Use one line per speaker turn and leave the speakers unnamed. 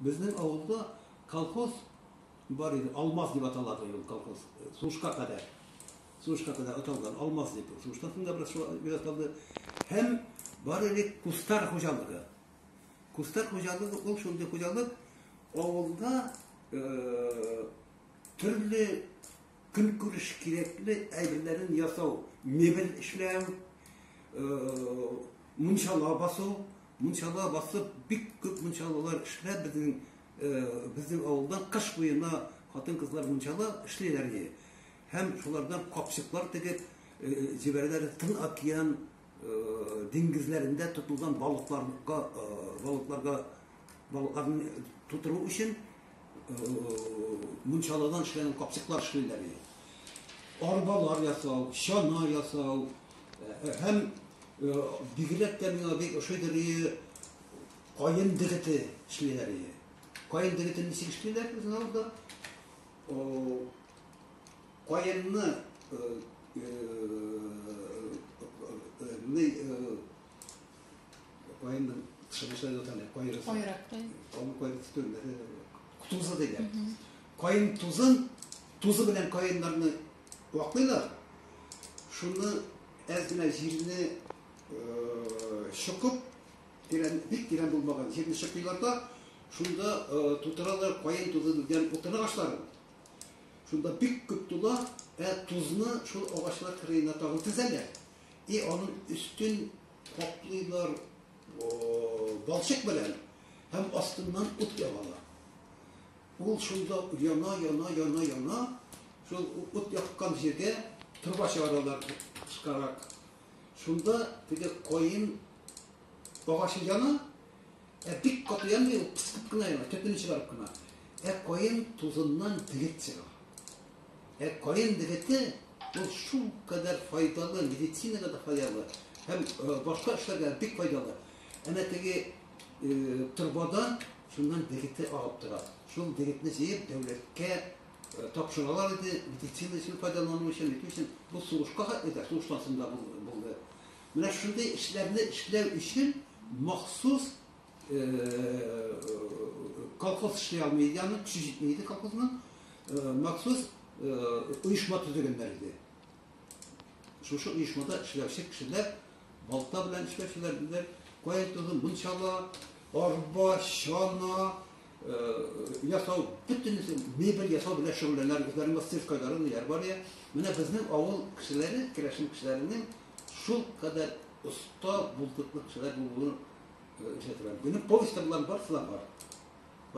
Безнең авылда колхоз бар иде, Алмаз дип аталады ул колхоз, сушка кадәр. Сушка кадәр аталган, Алмаз дип. Суштан соң да бераз калды. Һәм бар иде кустар хуҗалыгы. Кустар хуҗалыгы ул шундый хуҗалык, авылда э, төрле Көнкүреш кирәкле әйберләрен ясау, мебель эшләү, мунчала басу, мунчала басып, бик күп мунчалалар эшләп, безнең безнең авылдан кыш буена хатын-кызлар мунчала эшлиләр иде. Һәм шулардан капчыклар тегеп җибәрәләр Тын океан диңгезләрендә тотылган балыкларга балыкларга Балыкларны тутыру өчен мунчалардан эшләнгән капчыклар эшлиләр иде. Арбалар ясау, чана ясау һәм бигрәк тә миңа бик ошыйдыр иде каен дегете эшлиләр иде. Каен дегетен ничек эшлиләр безнең авылда? Каенны Кайын шыбыша яталар, кайрысы. Кайрак. Аны кайрысы төрмәдә тузы диләр. Кайын тузын, тузы белән кайыннарны ваклыйлар. Шуны әз генә җирне шыкып, тирән, бик тирән булмаган җирне шыкыйлар да, шунда тутыралар кайын тузы белән утыны агачларын. Шунда бик күп тула, ә тузны шул агачлар кырыена тагын тезәләр. И аның өстен Каплыйлар балчык белән һәм астыннан ут ягала. Ул шунда яна, яна, яна, яна, шул ут яккан җиргә труба чыгаралар кышкарак. Шунда теге каен агачы яна, Ә бик каты янмый ул, кысып кына яна, төпен чыгарып кына. Ә каен тузыннан дегет чыга. Ә каен дегете ул шул кадәр файдалы, медицинага да файдалы һәм э, башка эшләргә бик файдалы. Әнә теге э, торбадан шуннан дегете агып тора. Шул дегетне җыеп дәүләткә э, тапшыралар иде, медицина өчен файдалану өчен, бит өчен. Бу сугышка хәтле дә, сугыштан соң да булды. Менә шундый эшләрне эшләү өчен махсус колхоз эшли алмый иде, аның көче җитми иде колхозның, махсус оешма төзегәннәр иде. Шушы оешмада эшләүче кешеләр балта белән эшләүчеләр, каен тозын мунчала, арба, чана, ясау, бөтенесе мебель ясау белән шөгыльләнәләр, үзләренең мастерскойлары ниләр бар ия. Менә безнең авыл кешеләре, керәшен кешеләренең шул кадәр оста булдыклы кешеләр булуын ишетәм. Минем повестьта болар барысы да бар.